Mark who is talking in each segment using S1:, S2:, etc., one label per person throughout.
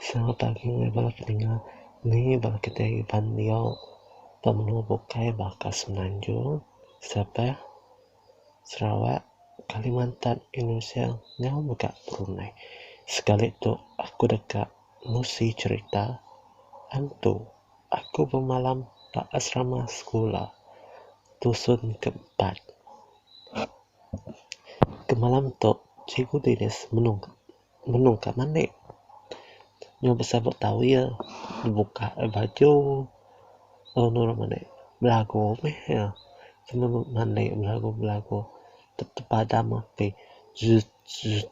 S1: Sereta agi meh bala ke dinga nengih bala kitai ngeban dio ba menua bukai baka semenanjung, sabah, sarawak, kalimantan, indonesia nyau mega brunei sekali tu aku deka Musi cerita, Antu, aku bemalam ba asrama sekula tusun ke empat. Ke malam tu Cikgu Dinis menung menung ka mandi. Nyau besabut towel, bebuka baju lalu nurun mandi. Belagu meh iya. Kena mandi belagu belagu. Tepadam api. Zuzup.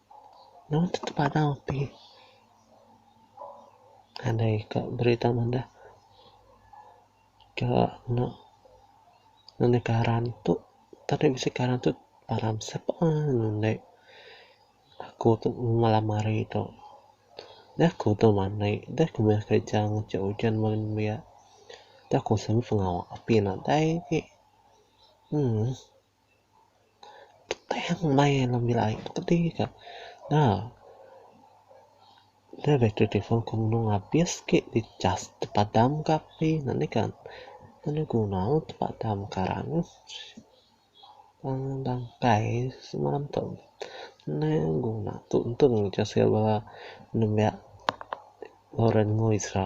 S1: Nang ti tepanau ti nadai ka berita madah ka nya nang di karan tu tadi bisi karan tu param sepan inde aku tu malam hari tu da ku tu manei da ku meh kerja ngacha ujan meh nembiak da ku semba pengawa api nadai agi uhh. Tang maya nya bila aye betemu ka nah dah bateri telefon ku mung habis ke di chaj tepadam ka api nih kan enu guna ne tepadam ka rang wang bangkai semalam tu enda guna untung untung ejek sida bala nembiak Loren enggau Isra.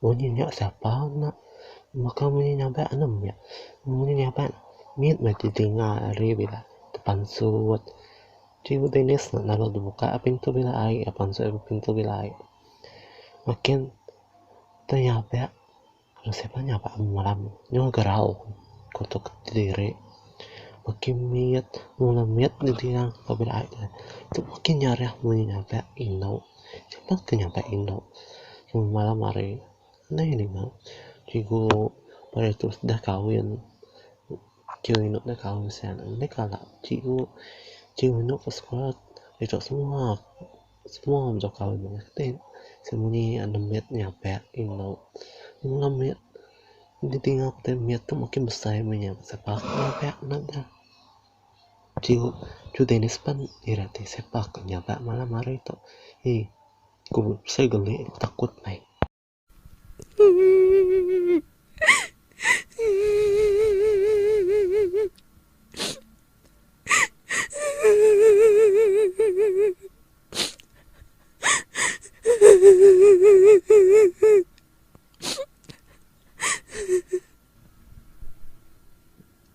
S1: Munyi nya sapa nya baka munyi nyabak anang meh munyi nyabak mit meh ti dinga ari bala ti pansut ti dines ne lalu dep muka pintu bala ai pansut ari pintu bala ai makin ti nyabak mung sapa nyabak ame malam nyau gerau kutuk kediri makin mit mung anak mit ne dinga bala ai tu makin nyarah munyi nyabak inu. Enda ke nyampai indu kami malam hari nai ninga cikgu pia tu deh kahwin cikgu indu deh kahwin sian enda kala cikgu cikgu indu ke sekula ito semua semua menjau kahwin meh ti sien muni ande mit nyape indu mengap mit enti tinga putih mit tu makin besai meh nya sebab nyape neh deh. Chu Chu Dennis pan ira ti siapa ke nyaga malam hari tu ee ku seh geli ku takut meh.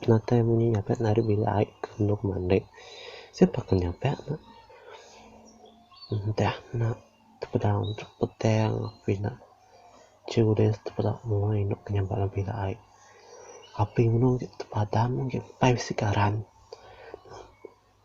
S1: Penatai munyi nyapai enda ari bilik ai ke endur mandi. Siapa ke nyapai ne. Entah ne tepedau entuk petang api ne children tepedau mua indu ke nyampai dalam bilik ai. Api menung ti tepadam empai bisi karan.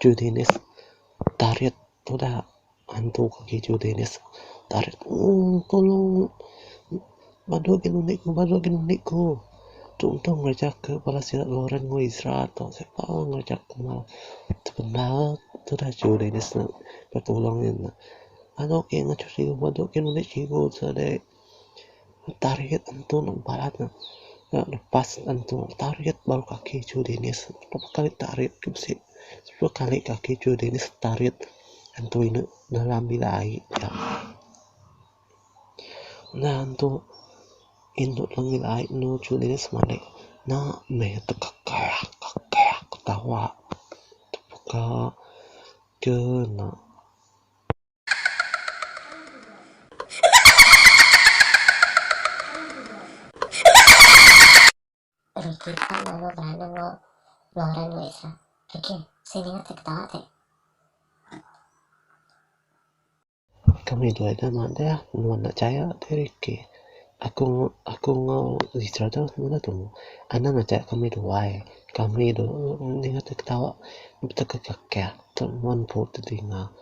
S1: Chu Dennis tarit tuda antu agi Chu Dennis tarit tung tolong badu agi nuni ku badu agi nuni ku tung tung ngeraja ke bala sida Lauren enggau Ezra tu sapa ngeraja ke penau penau tuda Chu Dennis nulung iya nya badu agi nuni chigu sadi. Target antu neg bala ne ira lepas antu target baru ke agi ejau dinis berapa kali target ke bisi sepuluh kali ke agi ejau dinis target antu inde dalam bila aye nya. Nya antu indu dalam bila aye anu ejau dinis manik nya meh tekak tekak ketawa tepeka ke ena.
S2: Riki ka lalu berana enggau Lauren enggau Isra. Riki, sing ninga ti ketawa ti.
S1: Kami dua nya madah nuan enda chaya ti Riki. Aku aku enggau Isra tu meda tumu. Anang aja kami duai. Kami dulu ninga ti ketawa betekak kekak. Tu nuan empu ti dinga.